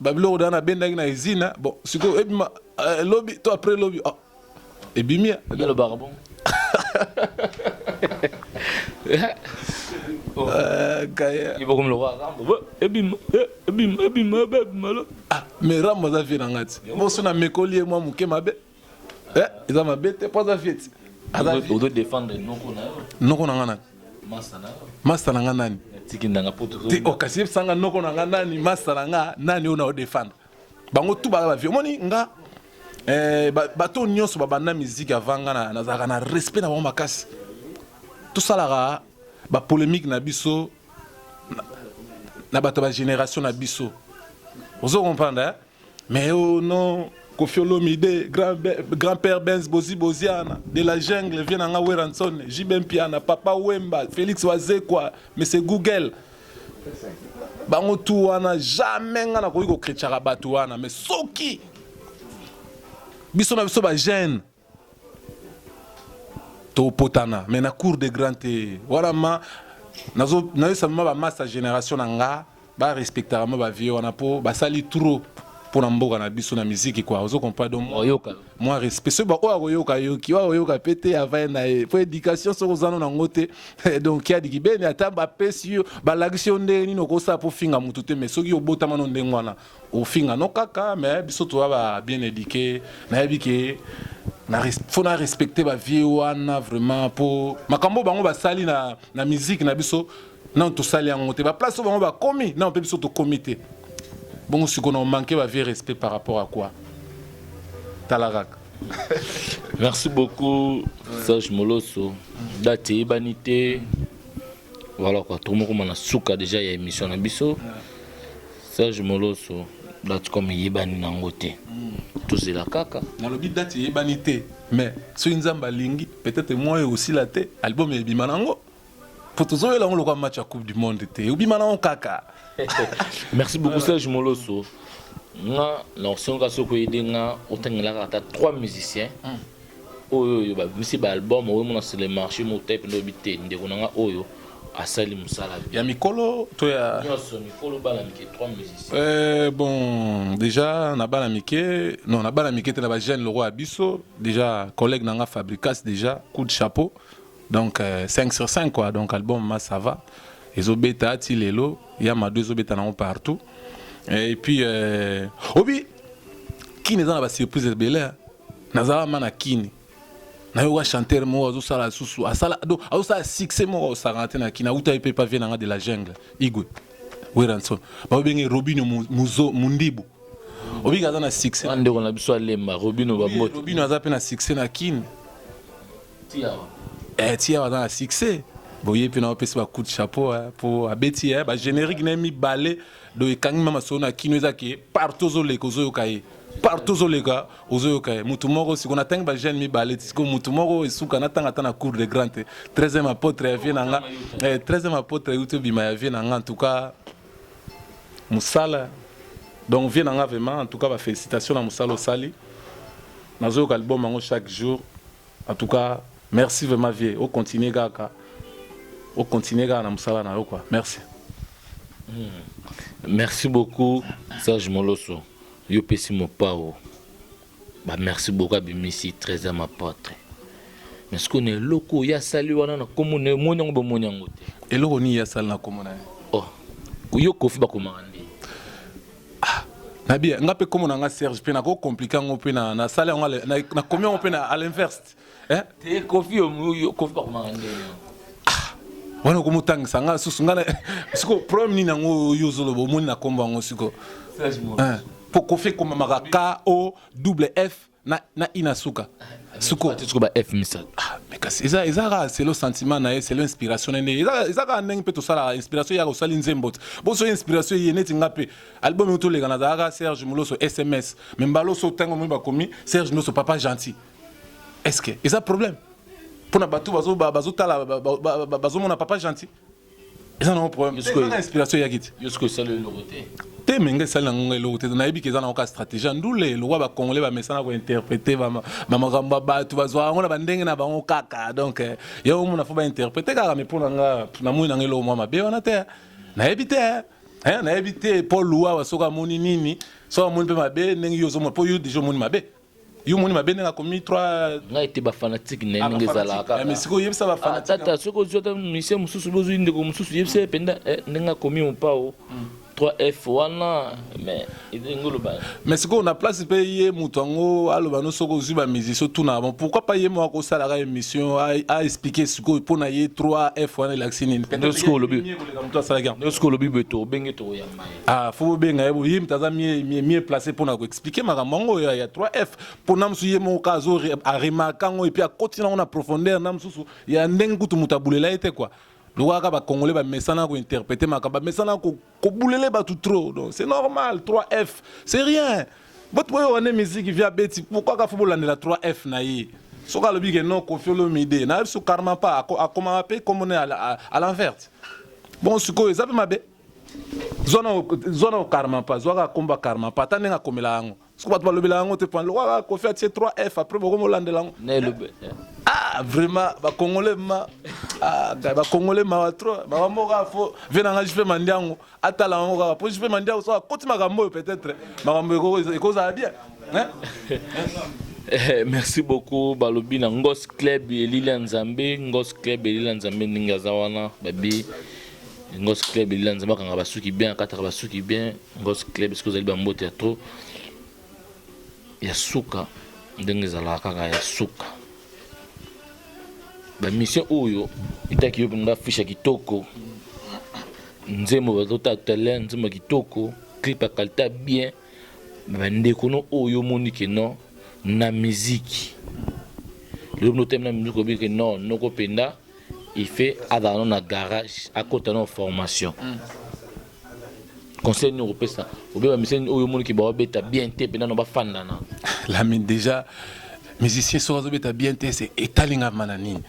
Speaker 3: ba biloko da na bendaki na izina bon siko ebima euh, lobi to après lobi oh, ebimi lo bon oh.
Speaker 1: euh,
Speaker 3: kaya ibo comme le
Speaker 1: roi rambo ebima ebima ebima ebima
Speaker 3: ah mais rambo za vie na ngati bon sona mekoli moi muke mabe Eh, eza mabe te po aza vieti ozo défendre
Speaker 1: noko na yo noko na
Speaker 3: nga nani masta na yo masta na nga nani tiki ndanga poto te
Speaker 1: o oh, kasi yebisa nga
Speaker 3: noko na nga nani masta na nga nani oyo na o défendre bango tu baza bavie omoni nga eh, bato oyo nyonso babanda miziki avant nga nazalaka na respect na bango makasi tosalaka bapolémike na biso na bato ya bagénération na biso ozo comprendre eh? Mais oh non, Kofi Olomide, grand, grand père Benz Bozi Boziana, de la jungle, vient nanga Weranson, JB Mpiana, Papa Wemba, Félix Wazekwa, Monsieur Google. Bango tu wana jamais nga nakoki kokretchaka bato wana, mais soki biso na biso ba jeune topotana mais na cour de grand te wana ma nayosa ma bamasta génération na nga barespectaka ma bavie wana mpo basali trop mpo na mboka na biso na miziki kua ozo comprendre donc oyoka mwa respect soki baoyo akoyoka yoki oyo akoyoka mpe te avai na ye mpo éducation soki ozano nango te donc kiadiki beni ata bapesi yo balakisi yo ndenge nini okosala mpo finga motu te mais soki obotama no ndenge wana ofinga no kaka mais biso toza ba bien eduque nayebi ke faut na respecter ba vieux wana vraiment po makambo bango basali na, na musique na biso nano tosali yango te baplace oyo bango bakomi nano mpe biso tokomi te bongo sikoyo na omanke ba vieux respect par rapport à quoi tala kaka
Speaker 1: merci beaucoup serge moloso date eyebani te voilà quoi tokomokoma na suka déjà ya émission na biso yeah. Serge Moloso date comme eyebani nango te tozela kaka nalobi date eyebani
Speaker 3: te mais soki nzambe alingi peut-être moi oyo osila te album ebima nango mpo tozoyela yango lokola match ya coupe du monde te obima nango kaka merci
Speaker 1: beaucoup serge moloso nga na osenga soki oyede nga otangelaka ata trois musiciens mm. oyo oyo babimisi ba album oyo mona sur le marché mo type ndo bi te ndeko na nga oyo asali musala ya mikolo
Speaker 3: to ya nyonso mikolo bana
Speaker 1: mike trois musiciens euh, bon
Speaker 3: déjà na bana mike non na bana mike te na ba jeune loko ya biso déjà collègue na nga fabricas déjà coup de chapeau donc euh, 5 sur 5 quoi donc album ma ça va ezobeta ti lelo ya mado ezobeta nango partout et puis euh, obi kini eza na basurprise ebele nazala ma na kini nayoka chanteur moko azosala lisusu asala do azosala succès moko aosakana te na kini auta ye mpe pavie na nga de la jungle igwe weranson babenge robino muzo mundibu obika aza na succès na ndeko na biso alemba
Speaker 1: robino bambote robino aza mpe na succès na
Speaker 3: kini tiawa eh tiawa aza na succès boye mpe na opesi ba coup de chapeau mpo abeti ba générique na ye mibale do ekangi ma masolo na kino eza ke partout ozoleka ozoyoka ye partout ozoleka ozoyoka ye motu moko siko natangi bajeune mibale ti siko motu moko esuka natanga ata na cour de grand te 13e apotre ya vie na nga 13e eh, apotre euti obima ya vie na nga en tout cas mosala donc vie na nga vraiment en tout cas bafélicitation na mosala osali nazoyoka album yango chaque jour En tout cas merci vraiment vieux o continuer kaka o continuer kaka na musala na yo quoi merci. Hmm.
Speaker 1: Merci beaucoup Serge Moloso yo pesi mopao ba merci beaucoup abimisi très à ma pote. Mais ce qu'on est loko ya sali wana na komo ne moni yango bomoni yango te. Eloko ni ya sali na
Speaker 3: komo na ye. Oh.
Speaker 1: Yo kofi bakomaka
Speaker 3: Ah, na bien nga mpe komo na nga serge mpe nako complique yango mpe na nasali yango nakomi yango mpe na à l'inverse eh? te kofi
Speaker 1: kofi bakomaka ndenge
Speaker 3: ah, wana okomotangisa nga susu nga siko problème nini yango yo ozoloba omoni na kombo yango siko mpo eh, kofi ekomamaka ko double f na na ina suka suko tuko ba f misatu
Speaker 1: ah mais kasi eza eza
Speaker 3: kaka selo sentiment na ye selo inspiration na ye eza eza kaka ndenge mpe tosalaka inspiration yaka osali nzembo te bo soki inspiration eye neti nga mpe album oyo toleka nazalaka serge moloso sms me mbala oso ntango omoi bakomi serge moloso papa gentil est ce que eza problème mpo na bato bazotala bazomona papa gentil eza nango problème eza na inspiration eyaki te yo sikoyo esali eloko
Speaker 1: te te me ngai esali
Speaker 3: nango ngai eloko te nayebi ke eza nango ka stratégie ya ndule lokwa bacongolais bamesana kointerprete bamakambo ya bato bazwaka yango na bandenge na bango kaka donc eh, yango mona fo bainterprete kaka me mpo na nga namoni nanga eloko mwa mabe wana te nayebi te nayebi te paul luwawa soki amoni nini soki amoni mpe mabe ndenge yo ozomona mpo yo deja omoni mabe yo omoni mabe ndenge akomi 3 ngai te bafanatique
Speaker 1: na ye ah, ndenge ezalaka mais sikoyo yebisa bafanatique
Speaker 3: ah, tata soki ozwi ata
Speaker 1: misie mosusu obi ozwi ndeko mosusu yebisa ye mpenza eh, ndenge akomi mopao 3f hmm. wana mais ndenge oloba mais sikoyo na place
Speaker 3: mpe ye moto yango aloba no soki ozwi bamusicien otunaka bon pourquoi pas ye moko akosalaka émission aexplike sikoyo mpo na ye 3f wana elakisi nini
Speaker 1: sikoyo olobi boye tobenge tokoyamba ye Ah, faut bobenga ye boye moto
Speaker 3: aza mieux place mpo na koexplike makambo yango ya 3f mpo na mosusu ye moko azo aremarke yango epuis akoti nango na profondeur na mosusu ya ndenge kutu moto abulela ye te kua lokolaka bacongolais bamesana kointerprete makambo bamesana kobulele bato trop donc c'est normal 3f c'est rien boto boyoka nde miziki via beti pourkoi kafo bolandela 3f na ye soki alobi ke non kofi olomide nayebi so karma pa akomaka mpe kombo ne à l'enverte bon sikoyo eza mpe mabe zwa na karma pa zwaka komba karma pa ata ndenge akomela yango soki bato balobela yango te pan lokola kofi atie 3 f après bokomi olandela yango eh. ah vraiment bacongolais ma ah, bacongolais mawa trop mawa moko kaka fo vie na ngai jipe mandiango atala yango kaka mpo jipe mandiango soki akoti makambo oyo peut-être makambo ekozala bien Eh,
Speaker 1: merci beaucoup balobi na ngos club elili ya nzambe ngos club elili ya nzambe ndenge aza wana babi ngos club elila nzambe akanga basuki bien akataka basuki bien ngos club soki ozali bambote ya trop ya suka ndenge ezalaka kaka ya suka bamission oyo etaki yo mpenza fisha kitoko nzembo bazotala tolea nzembo kitoko clip ya kalita bien bandeko no oyo omoni ke non na miziki lelo mino otemi na miziki obiki non noko mpenza il fait azala no na garage akota no formation mm. conseil nini okopesa obe bamiseni oyo omoniki baobeta bien te mpe nano bafandana lami déjà
Speaker 3: musicien soki azobeta bien te se etalingama na
Speaker 1: nini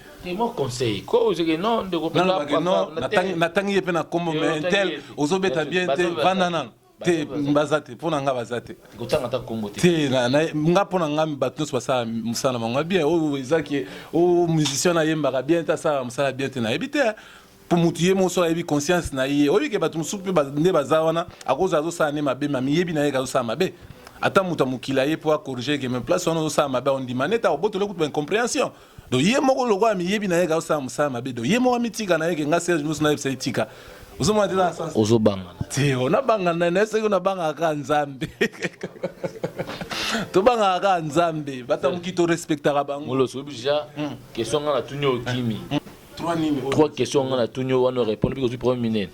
Speaker 3: natangi ye mpe na nkombo mais tel ozobeta bien te vanda nano te baza te mpo na ngai baza te
Speaker 1: te nga
Speaker 3: mpo na ngai bato nyonso basala mosala na bango bien oyo ezaki oyo musicien nayembaka bien te asalaka mosala bien te nayebi te mpo motu ye moko so ayebi conscience na ye oyebi ke bato mosusu mpe nde baza wana akozala azosala nde mabe ma miyebi na ye ke azosala mabe ata moto ya mokili aye mpo akorige ke me place wana ozosala mabe ondima nete akobotole kutu ba incomprehension Donc ye moko lokola miyebi na ye ka osala musala mabe donc ye moko amitika na ye ke nga Serge musu na yebisa itika. Ozo mona tena sens. Ozo banga. Te
Speaker 1: ona banga
Speaker 3: na na soki na banga ka nzambe. To banga ka nzambe bata muki to respecta ka bango. Molo sobi ja hmm.
Speaker 1: question nga na tunyo kimi. Hmm. Trois nini? Trois questions nga na tunyo wana répondre biko tu premier minute.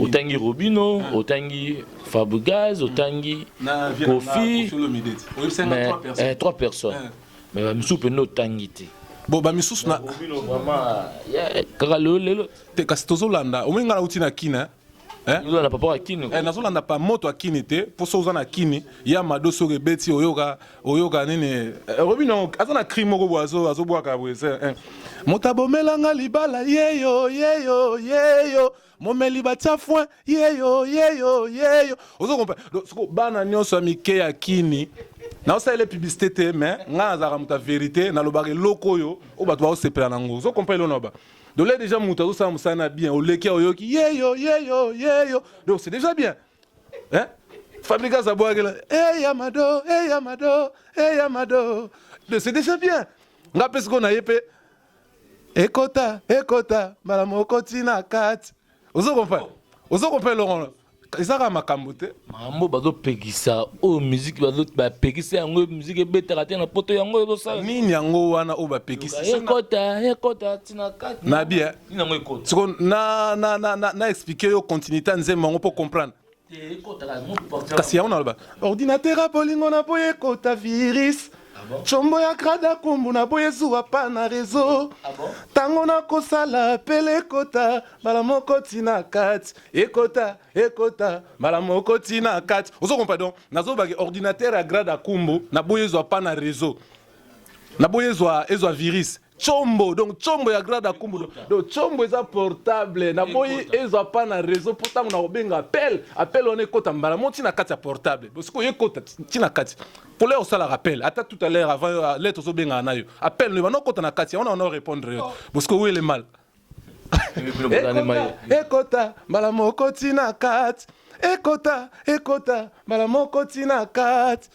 Speaker 1: otangi robino ah. otangi fabrigaz otangi kofi eh, trois personnes ah. mais ba misusu pende otangi te bon ba misusu
Speaker 3: na
Speaker 1: kaka lelo lelo te kasi tozolanda
Speaker 3: omoni ngai nauti na kina eh? ozolanda papa
Speaker 1: ya kini eh, nazolanda pa moto ya
Speaker 3: kini te mpo so oza na kini ya mado soki ebeti oyoka oyoka nini eh, oyebi no aza na cri moko boye azobwaka boye eh. moto abomelanga libala yeyo yeyo yeyo momeli batia foin yeyo yeyo yeyo ozo comprendre donc siko bana nyonso ya mike ya kini naosalela publicité te mais ngai nazalaka moto ya verité nalobaka eloko oyo oyo bato baosepela na yango ozo comprendre elona ba donc là déjà moto azosala mosala na bien oleki oyoki yeyo yeyo yeyo donc c'est déjà bien hein fabrigas abwakela hey yamado hey yamado hey yamado donc c'est déjà bien ngai mpe sikoyo na ye mpe ekota ekota mbala moko ntina kati ozo comprendre ozo comprendre longola ezaka makambo te makambo bazopekisa
Speaker 1: oyo miziki bapekisa yango miziki ebetaka te na poto yango ezosala nini yango wana
Speaker 3: oyo bapekisiekota ekota
Speaker 1: ntina kati na bien
Speaker 3: siko na explike yo continuité ya nzembo yango mpo comprendre kasi yango naloba ordinateur ya bolingo na boye ekota virus combo ah ya krada kumbu na boye ezuwa pa na rezo ntango ah nakosala pele ekota mbala moko tina kati ekota ekota mbala moko tina kati ozo kompa donc nazobaki ordinateur ya grade ya kumbu na boye ezwa pa na rezo na boye ezwa ezwa virus Chombo donc chombo ya grade akumbu donc chombo eza portable na boyi ezwa pa na réseau mpo ntango na kobenga appel appel wana ekota mbala moko ntina kati ya portable bosiko ekota ntina kati couleur osalaka appel ata tout à l'heure avant euh, lettre ozobengaka na yo appel no ebanda okota na kati yango na wana orépondre yo bosiko wele mal ekota mbala moko ntina kati ekota ekota mbala moko ntina kati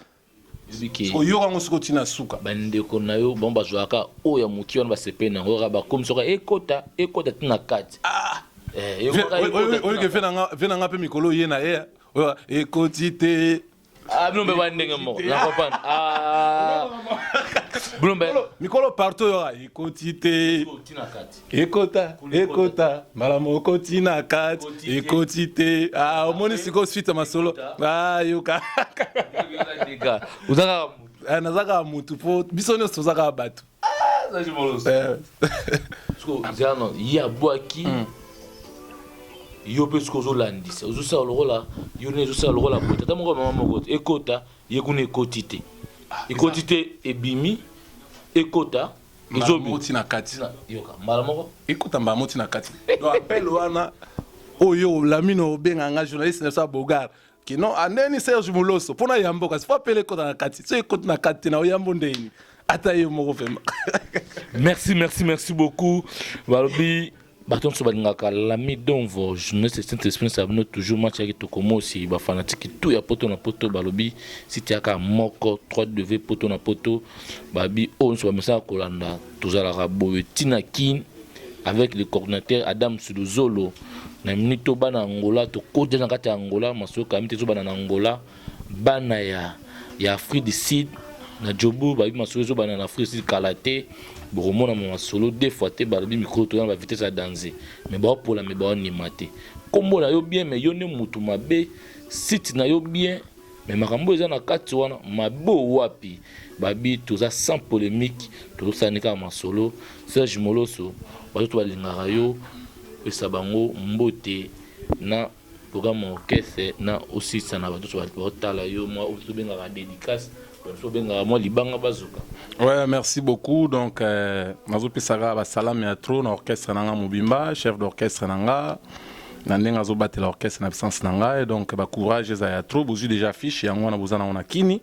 Speaker 3: oyoka yango soko tina suka bandeko na yo bango
Speaker 1: bazwaka oyo ya moke wana basepe na yango kaka bakomi soka ekota ekota tina kati ah! eh, oyike
Speaker 3: ve na nga mpe mikolo oye na ye oyo ekoti te ah, bino mpe ba
Speaker 1: ndenge moko na comprendre ah. bino mpe mikolo partout oyo
Speaker 3: ekoti te tina kati ekota ekota mbala moko ntina kati ekoti te ah, omoni sikoyo suite ya masolo ah, yoka
Speaker 1: eh, naza kaka motu
Speaker 3: mpo biso nyonso toza kaka bato
Speaker 1: eh. ye abwaki hmm. yo mpe soki ozolandisa ozosala lokola yo nde ezosala lokola boye tata moko mama moko ekota ye kuna ekoti te ah, ekoti te ebimi ekota mbala Zobi. moko ti
Speaker 3: na kati Tina, yoka mbala moko
Speaker 1: ekota mbala moko ti na kati
Speaker 3: donc appel wana oyo lamino obenga nga journaliste na biso ya bogar ke non andeni serge moloso mpo na yambo kasi fo appel ekota na kati so ekoti na kati te na oyambo ndeni ata ye moko vraimen merci
Speaker 1: merci merci beaucoup balobi bato nyonso balingaka lami donvo journaliste saint esprit nsala bino toujours match ya kitoko mosi bafanatiki tu ya poto na poto balobi site yaka moko 3w poto na poto babi oyo nyonso bamesaka kolanda tozalaka boye ntina kin avec le coordinateur adam suluzolo na minute oyo bana angola tokoti na kati ya angola masolo kami te ezobana na angola Bana ya ya Afrique du Sud na Joburg bayebi masolo ezobanda na Afrique du Sud kala te. Bokomona ma masolo deux fois te balobi mikolo toza na ba vitesse ya danze me baopola me baonima te. Nkombo na yo bien me yo nde mutu mabe, site na yo bien me makambo eza na kati wana mabe wapi? Babi toza sans polemique tozosala nde kaka masolo. Serge Moloso bazoto balingaka yo pesa bango mbote na. Toka mwa orchestre na osisa na bato ba otala yo mwa oyo tobengaka dédicace bato obengaka mwa libanga bazoka
Speaker 3: ouais merci beaucoup donc euh, nazopesaka basalami ya trop na orchestre na nga mobimba chef d'orchestre na nga na ndenge azobatela orchestre na absence na ngai donc bacourage eza ya trop bozwi déjà affiche yango wana boza nango na kini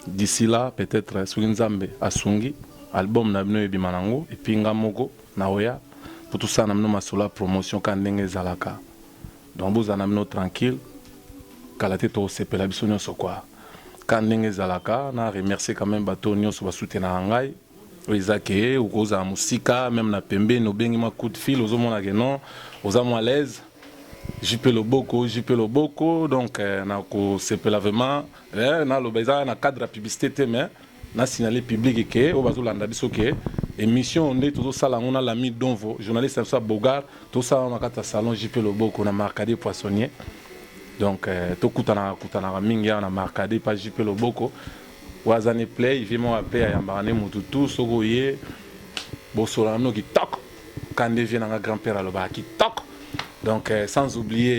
Speaker 3: d'ici là peut-être soki nzambe asungi album na bino ebima nango epuis nga moko naoya mpo tosala na bino masolo ya promotion kaka ndenge ezalaka donc bozala na bino tranquille kala te tokosepela biso nyonso kwa ka ndenge ezalaka na remercier quand même bato nyonso basutenaka ngai oyo eza ke okozala mosika meme na pembeni obengi mwa coup de fil ozomona ke non oza mwa alaise jipe loboko jipe loboko donc euh, nakosepela vraiment Eh na loba eza na cadre ya publicite te mais na signaler public ke oyo bazo landa biso ke emission nde tozo sala yango na l'ami Donvo journaliste na biso ya Beaugard to sala na kati ya salon JP Loboko na Marcadier Poissonnier donc eh, to kutana kutana ka mingi ya na Marcadier pa JP Loboko waza ne play vie mo ape ayambaka ne mutu tout soko ye bosola na mino kitoko kande vie na nga grand père alobaka kitoko donc eh, sans oublier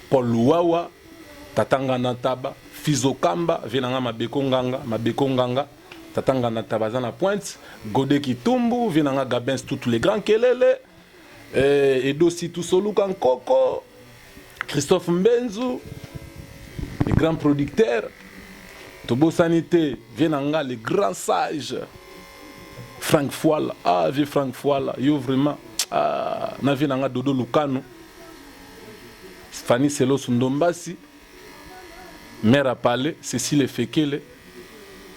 Speaker 3: Paul Luwawa, Tata Ngana Ntaba, Fils Okamba, vieux na nga Mabeko Nganga, Mabeko Nganga, Tata Ngana Ntaba aza na pointe, Gode Kitumbu, vieux na nga Gabens Tutu le Grand Kelele, eh, Edo Situ Soluka Nkoko, Christophe Mbenzu, le grand producteur, tobosani te vieux na nga le grand sage frank fuala ah vieux frank fuala yo vraiment ah, na vieux na nga dodo lukanu Fanny Selosu Ndombasi, Mère à Palais, Cécile Efekele,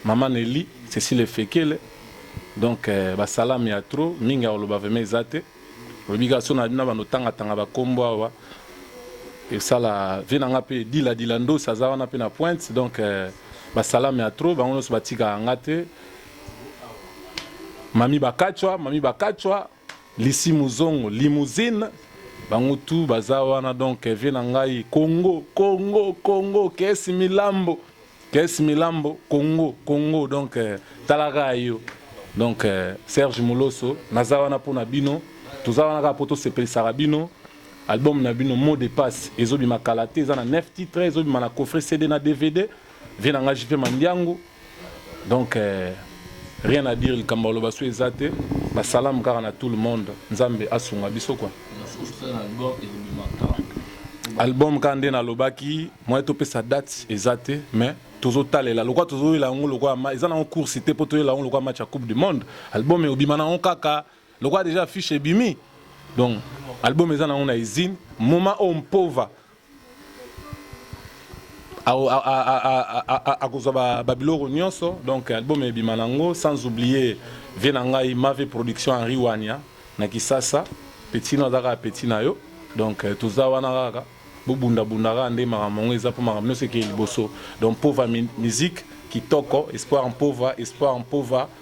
Speaker 3: Maman Nelly, Cécile Efekele. Donc euh, ba salami ya trop mingi akoloba vraiment eza te. Olobi kaka so na bino bando tanga tanga ba kombo awa. Esala vie na nga pe dila dila ndosi aza wana pe na pointe donc euh, ba salami ya trop bango nyonso batika nga te. Mami Bakachwa, Mami Bakachwa, Lisi muzongo limousine bango tout baza wana donc vie na ngai Congo Congo Congo kesi milambo kesi milambo Congo Congo donc tala ka yo donc Serge Moloso naza wana mpo na bino toza wana kaka mpo tosepelisaka bino album na bino mot de passe ezobima kala te eza na 9 titre ezobima na coffret CD na DVD vie na ngai JP Mandiangu donc euh, rien à dire likambo aloba so eza te basalamu kaka na tout le monde nzambe asunga biso kwa album kaka nde nalobaki moye topesa date eza te mais tozotalela lokola tozoyela yango lokola eza nango course te mpo toyela yango lokola match ya coupe du monde album eobima nango kaka lokola deja affiche ebimi donc album eza nango na usine moma oyo mpova akozwa ba biloko nyonso donc album ebima nango sans oublier vie na ngai mave production Henri Wanya na Kisasa petit no azaka petit na yo donc euh, toza wana kaka bobunda bunda kaka nde makambo yango eza mpo makambo nyonso ekei liboso donc pova musique kitoko espoir mpova espoir mpova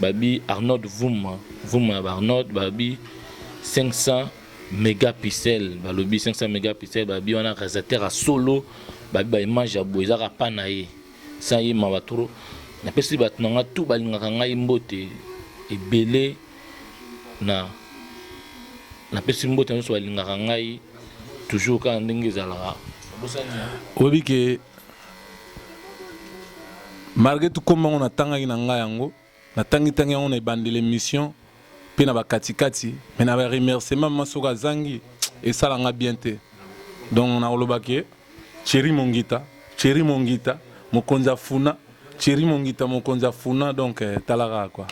Speaker 1: Babi Arnold Vuma, Vuma ya ba Arnold babi 500 megapixels, balobi 500 megapixels, babi wana realisateur ya solo, babi ba image ya boye ezaka pa na ye, sans ye mawa trop. Napesi bato na nga tout balingaka ngai mbote ebele na napesi mbote na nionso balingaka ngai toujours kaka ndenge ezalaka. Oyebi
Speaker 3: ke. Malgre tout kombo yango natangaki na ngai yango, natangi tangi yango na ebandeli emission pe na bakati kati, mais na ba remerciement ma soki azangi esala nga bien te. Donc nakoloba ke Thierry Mongita, Thierry Mongita, mokonzi afuna, Thierry Mongita mokonzi afuna donc eh, tala kaka quoi.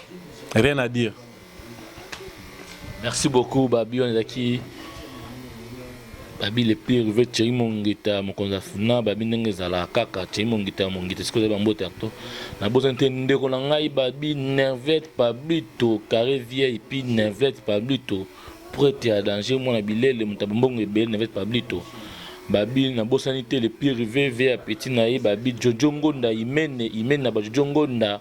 Speaker 3: Rien à dire. Merci
Speaker 1: beaucoup Babi, on est qui Babi le plus rêvé Thierry Mongita mokonzi afuna Babi ndenge ezala kaka Thierry Mongita Mongita sikoyo eza bambote arto na boza te ndeko na ngai Babi Nervette Pablito carré vieille puis Nervette Pablito prêtre ya danger mwana bilele moto ya bombongo ebele Nervette Pablito babi nabosani te le pire vv ya petit na ye babi jojo ngonda imene imene na bajojo ngonda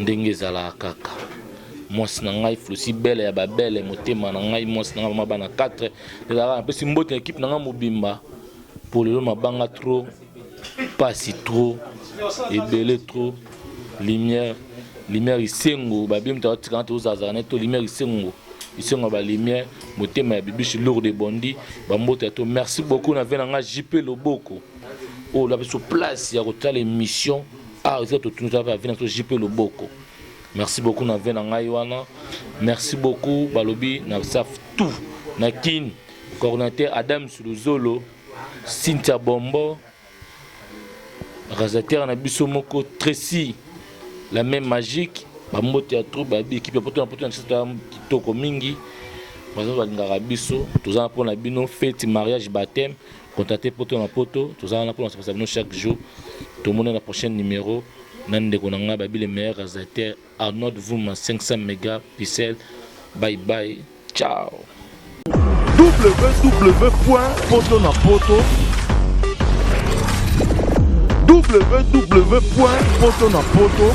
Speaker 1: ndenge ezalaka kaka mwasi na ngai flosi bele ya babele motema na ngai mwasi na ngai mama bana 4 ezalaka napesi mbote na ekipe na ngai mobimba mpo lelo mabanga trop mpasi trop ebele trop lumière lumière isengo babie moto akotikana tozazala na ye to lumière isengo isengo ya balumière motema ya bibishi lourde bondi bambote ya to merci beaucoup na vie na ngai jp loboko oyo oh, labiso place ya kotala émission ah ozika totunza pe avina to jipe loboko merci beaucoup na vie na ngai wana merci beaucoup balobi na saf tout na kin coordinateur adam suluzolo cynthia bombo rasateur na biso moko tracy la même magique bambote ya troupe bayebi ekipe ya poto na poto na biso toya kitoko mingi baza balingaka biso toza mpo na bino feti mariage bateme Contactez Poto na Poto, toza wana pona sepesa bino chaque jour. Tomona na prochaine numero na ndeko na ngai babi le meilleur réalisateur Arnold Vuma 500 mega pixel. Bye bye. Ciao.
Speaker 2: www.potonapoto www.potonapoto